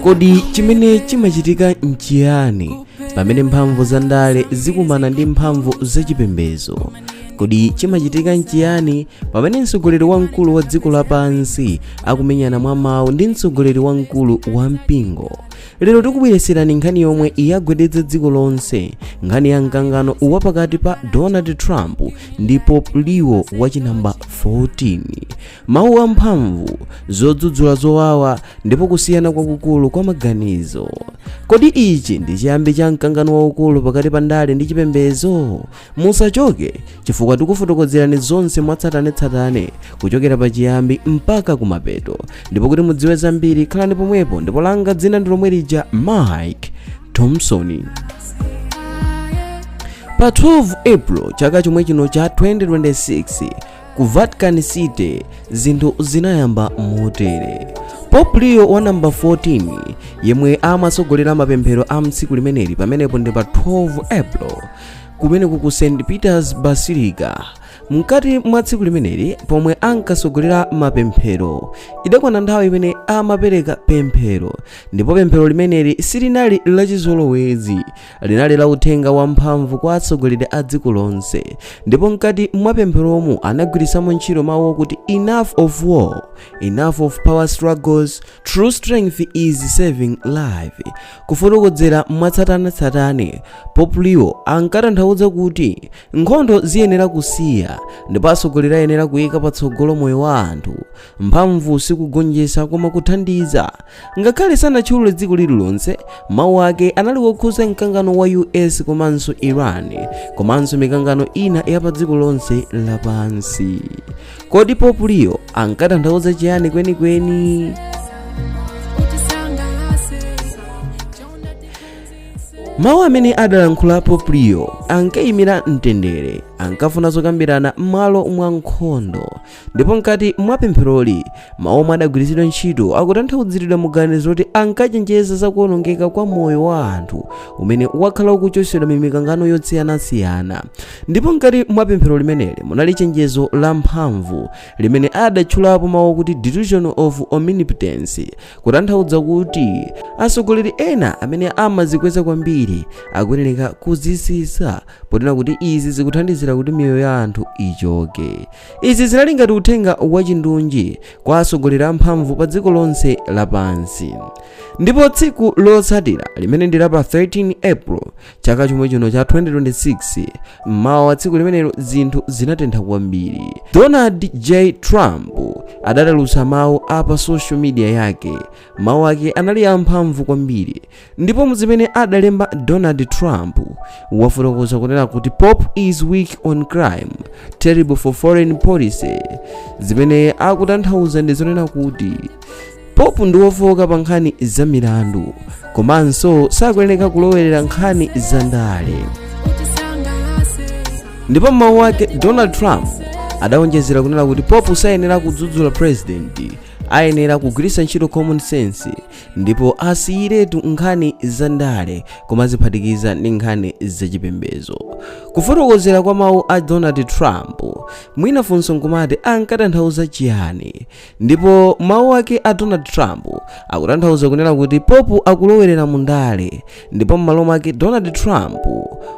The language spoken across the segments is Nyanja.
kodi chimene chimachitika nchiyani pamene mphamvu za ndale zikumana ndi mphamvu zachipembedzo kodi chimachitika nchiyani pamene mtsogoleri wamkulu wa dziko lapansi akumenyana mwa mawu ndi mtsogoleri wamkulu wa mpingo lero tikubweretserani nkhani yomwe yagwedeza dziko lonse nkhani ya mkangano wa pakati pa donald trump ndi pope leo wachinamba 14 mawu amphamvu zodzudzula zowawa ndipo kusiyana kwakukulu kwa maganizo kodi ichi ndi chiyambi cha mkangano waukulu pakati pa ndale ndi chipembedzo musachoke chifukwa tikufotokozerani zonse mwatsatanetsatane kuchokera pa chiyambi mpaka kumapeto ndipo kuti mudziwe zambiri khalani pomwepo ndipo langa dzina ndi lomwe lija mike thompson pa 12 april chaka chomwe chino cha 2026 ku vatican city zinthu zinayamba motere pope leo wa namba 14 yemwe amatsogolera mapemphero a mtsiku limeneli pamenepo ndi pa 12 april kumeneku ku st peters basilica mkati mwa tsiku limeneli pomwe ankatsogolera mapemphero idakwana nthawi imene amapereka pemphero ndipo pemphero limeneli silinali lachizolowezi linali la uthenga wamphamvu kwa atsogoleri a dziko lonse ndipo mkati mwa pempheromu anagwiritsamo ntchito mawu okuti enough of war enough of power struggles true strength is saving life kufotokozera mwatsatanetsatane pope leo ankatanthauza kuti nkhondo ziyenera kusiya ndipo atsogoleri ayenera kuyika patsogolo moyo wa anthu mphamvu sikugonjetsa koma kuthandiza Ngakhale sanatchulule dziko lililonse, mawu ake anali wokhuza mkangano wa US komanso Iran, komanso mikangano ina ya padziko lonse lapansi. Kodi Pope Leo ankatanthauza chiyani kwenikweni? mawu amene adalankhula Pope Leo ankayimira mtendere ankafuna zokambirana m'malo mwa nkhondo ndipo mkati mwa pempheroli mawu omwe adagwiritsidwa ntchito akutanthauziridwa mu ganizo kuti ankachenjeza za kuwonongeka kwa moyo wa anthu umene wakhala ukuchotsedwa m'mikangano yosiyanasiyana ndipo mkati mwa pemphero limeneli munali chenjezo la mphamvu limene adatchulapo mawu akuti delusion of omnipotence kutanthauza kuti atsogoleri ena amene amazikweza kwambiri akuyenereka kuzitsitsa ponena kuti izi zikuthandizira kuti miyoyo ya anthu ichoke izi zinali ngati uthenga wachindunji kwa atsogoleri amphamvu pa dziko lonse lapansi ndipo tsiku lotsatira limene ndi la pa 13 april chaka chomwe chino cha 2026 mmawa wa tsiku limenelo zinthu zinatentha kwambiri donald j trump adatulutsa mawu a pa social media yake mawu ake anali amphamvu kwambiri ndipo muzimene adalemba donald trump wafotokoza kunena kuti pope is weak on crime terrible for foreign policy zimene akutanthauza ndi zonena kuti pope ndi wofowoka pa nkhani za milandu komanso sakuyeneka kulowerera nkhani za ndale ndipo m'mawu ake donald trump adawonjezera kunena kuti pope sayenera kudzudzula president ayenera kugwiritsa ntchito common sense ndipo asiyiretu nkhani za ndale koma adziphatikiza ndi nkhani zachipembedzo kufotokozera kwa mawu a donald trump mwina funso nkumati ankatanthauza chiyani ndipo mawu ake a donald trump akutanthauza kunena kuti pope akulowerera mu ndale ndipo m'malo mwake donald trump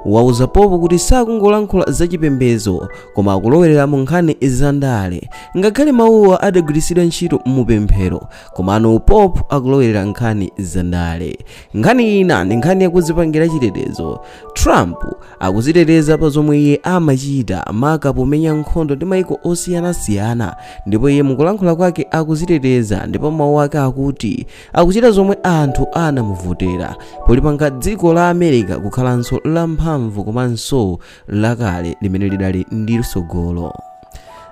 wauza pope kuti sakungolankhula zachipembedzo koma akulowerera mu nkhani za ndale ngakhale mawuwa adagwiritsidwa ntchito mu pemphero Komano Pope akulowerera nkhani za ndale. Nkhani ina ndi nkhani yakudzipangira chitetezo. Trump akudziteteza pa zomwe iye amachita maka pomenya nkhondo ndi maiko osiyanasiyana ndipo iye mukulankhula kwake akudziteteza ndipo mawu ake akuti akuchita zomwe anthu anamuvotera polipanga dziko la America kukhalanso lamphamvu komanso lakale limene lidali ndi tsogolo.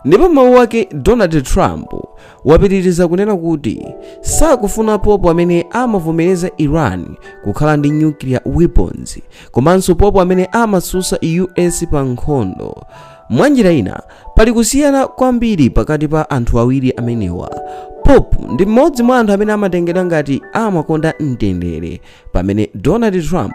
Ndipo m'mawu ake, Donald Trump wapitiriza kunena kuti sakufuna Pope amene amavomereza Iran kukhala ndi nuclear weapons komanso Pope amene amatsutsa US pa nkhondo. Mwanjira ina, pali kusiyana kwambiri pakati pa anthu awiri amenewa. Pope ndi mmodzi mwa anthu amene amatengedwa ngati amakonda mtendere, pamene Donald Trump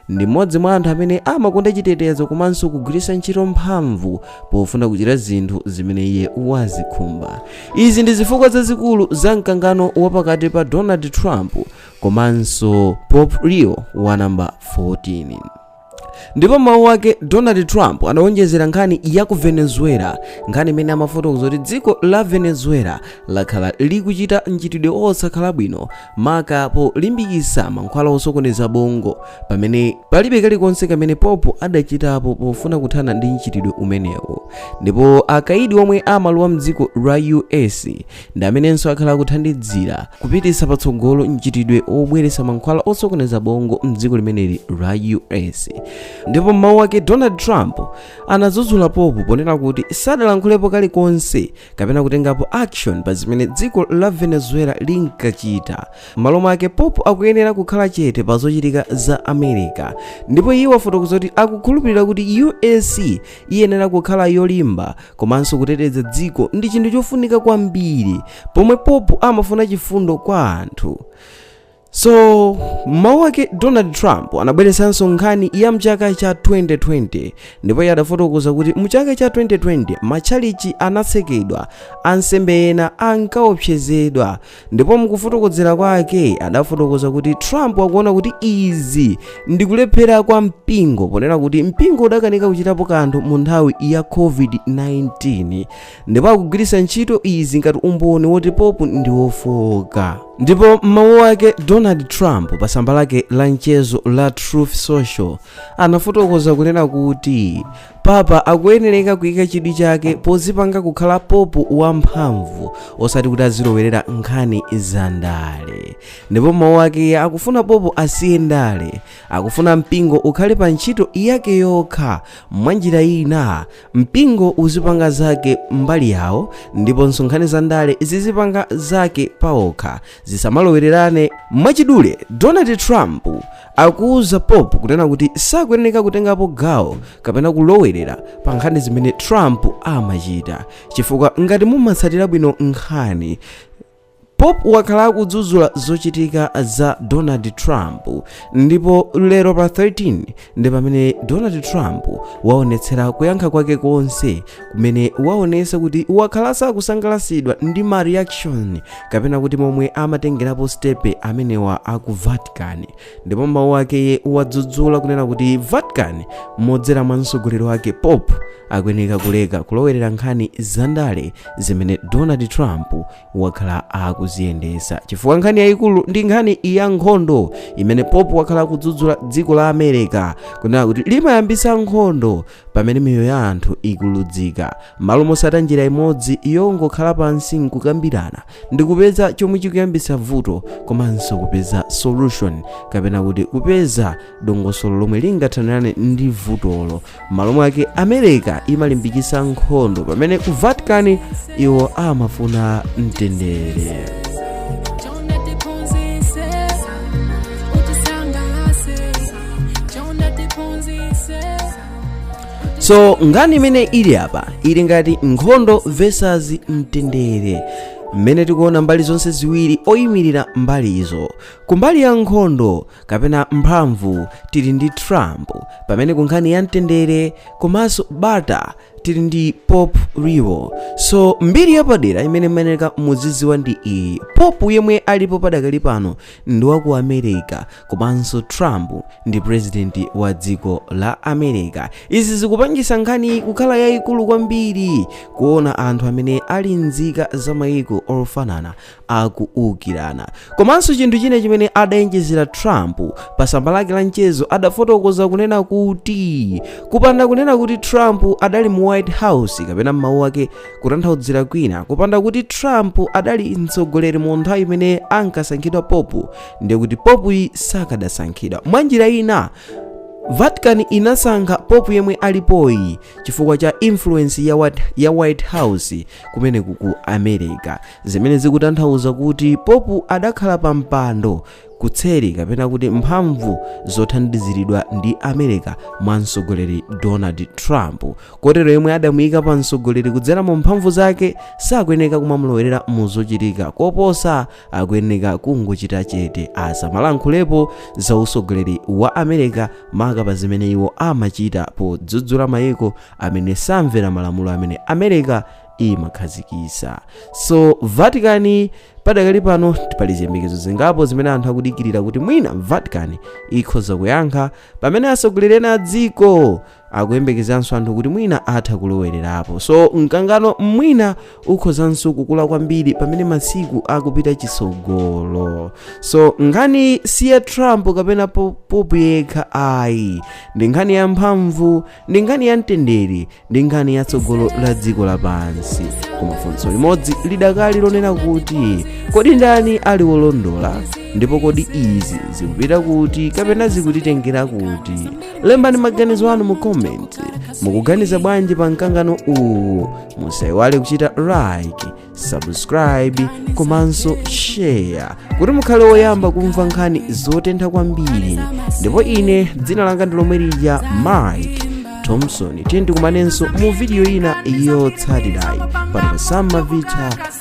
Ndi mmodzi mwa anthu amene amakonda chitetezo komanso kugwiritsa ntchito mphamvu pofuna kuchita zinthu zimene iye wazikhumba. Izi ndi zifukwa zazikulu za mkangano wa pakati pa Donald Trump komanso Pope Leo wa namba 14. Ndipo mawu ake Donald Trump anawonjezera nkhani ya ku Venezuela, nkhani imene amafotokoza kuti dziko la Venezuela lakhala likuchita mchitidwe osakhala bwino maka polimbikitsa mankhwala osokoneza bongo pamene palibe kalikonse kamene popo adachitapo pofuna kuthana ndi mchitidwe umenewu ndipo akaidi omwe amalowa mdziko la us ndi amenenso akhala akuthandizira kupititsa patsogolo mchitidwe obweretsa mankhwala osokoneza bongo mdziko limeneli la us ndipo m'mawu ake donald trump anadzudzula pope ponena kuti sadalankhulepo kalikonse kapena kutengapo action pa zimene dziko la venezuela linkachita m'malo mwake pope akuyenera kukhala chete pa zochitika za america ndipo iye wafotokoza kuti akukhulupirira kuti us iyenera kukhala yolimba komanso kuteteza dziko ndi chinthu chofunika kwambiri pomwe pope amafuna chifundo kwa anthu so mmawu ake donald trump anabweretsanso nkhani ya mchaka cha 2020 ndipo iye adafotokoza kuti mchaka cha 2020 matchalichi anatsekedwa ansembe ena ankaopsezedwa ndipo mkufotokozera kwake adafotokoza kuti trump akuona kuti izi ndi kulephera kwa mpingo ponena kuti mpingo udakanika kuchitapo kanthu mu nthawi ya covid-19 ndipo akugwiritsa ntchito izi ngati umboni woti pope ndi wofooka ndipo m'mawu ake donald trump pa tsamba lake la mchezo la truth social anafotokoza kunena kuti papa akuyenereka kuyika chidwi chake pozipanga kukhala pope wamphamvu osati kuti azilowerera nkhani za ndale ndipo m'mawu ake akufuna pope asiye ndale akufuna mpingo ukhale pa ntchito yake yokha mwanjira ina Mpingo uzipanga zake mbali yawo ndiponso nkhani za ndale zizipanga zake paokha, zisamalowererane. Mwachidule, Donald Trump akuuza Pope kunena kuti sakuyeneka kutengapo gawo kapena kulowerera pa nkhani zimene Trump amachita chifukwa ngati mumatsatira bwino nkhani Pope wakhala akudzudzula zochitika za Donald Trump ndipo lero pa 13 ndi pamene Donald Trump waonetsera kuyankha kwake konse kumene waonesa kuti wakhala sakusangalatsidwa ndi ma reaction kapena kuti momwe amatengerapo stepe amenewa aku Vatican ndipo m'mawu ake iye wadzudzula kunena kuti vatican modzera mwa mtsogoleri wake pope akuyeneka kuleka kulowerera nkhani zandale zimene donald trump wakhala akuziyendesa chifukwa nkhani yayikulu ndi nkhani ya nkhondo imene pope wakhala akudzudzula dziko la america kunena kuti limayambisa nkhondo pamene miyoyo ya anthu ikuluzika m'malo motsata njira imodzi yongokhala pansi nkukambirana ndi kupeza chomwe chikuyambitsa vuto komanso kupeza solution kapena kuti kupeza dongosolo lomwe lingathanirane ndi vutolo m'malo mwake america imalimbikitsa nkhondo pamene ku vatican iwo amafuna mtendere so nkhani imene ili apa ili ngati nkhondo versus mtendere mmene tikuona mbali zonse ziwiri oyimirira mbali izo kumbali ya nkhondo kapena mphamvu tili ndi trump pamene kunkhani ya mtendere komanso bata tili ndi popu leo so mbiri yapadera imene mmayeneka muzidziwa ndi iyi popu yemwe alipo padakali pano ndi wa ku america komanso trump ndi purezidenti wa dziko la america izi zikupangisa nkhani kukhala yayikulu kwambiri kuona anthu amene ali nzika za mayiko ofanana akuukirana komanso chinthu china chimene adayenjezera trump pa tsamba lake la mchezo adafotokoza kunena kuti kupanda kunena kuti trump adali mu white house kapena m'mawu ake kutanthaudzira kwina kupanda kuti trump adali mtsogoleri mu nthawi imene ankasankhidwa popu ndiye kuti popuyi sakadasankhidwa mwanjira ina vatican inasankha popu yemwe alipoyi chifukwa cha influence ya white house kumeneku ku america zimene zikutanthauza kuti popu adakhala pa mpando kutseri kapena kuti mphamvu zothandiziridwa ndi america mwa mtsogoleri donald trump kotero yemwe adamuyika pa mtsogoleri kudzera mu mphamvu zake sakuyeneka kumamulowerera mu zochitika koposa akuyeneka kungochita chete asamalankhulepo za usogoleri wa america maka pa zimene iwo amachita podzudzula mayiko amene samvera malamulo amene america imakhazikisa so vatican padakali pano pali ziyembekezo zingapo zimene anthu akudikirira kuti mwina vatican ikhoza kuyankha pamene asogoleri ena a dziko akuyembekezanso anthu kuti mwina atha kulowererapo so mkangano mwina ukhozanso kukula kwambiri pamene masiku akupita chitsogolo so nkhani si ya trump kapena popu yekha ayi ndi nkhani ya mphamvu ndi nkhani ya mtendere ndi nkhani ya tsogolo la dziko lapansi koma funso limodzi lidakali lonena kuti kodi ndani ali wolondola ndipo kodi izi zikupita kuti kapena zikutitengera kuti lembani maganizo anu mu comment mukuganiza bwanji pa mkangano uwu musaiwale kuchita like subscribe komanso share kuti mukhale woyamba kumva nkhani zotentha kwambiri ndipo ine dzina langa ndi lomwe lija mike thompson tikumanenso mu vidiyo ina yotsatirayi pano pa samavita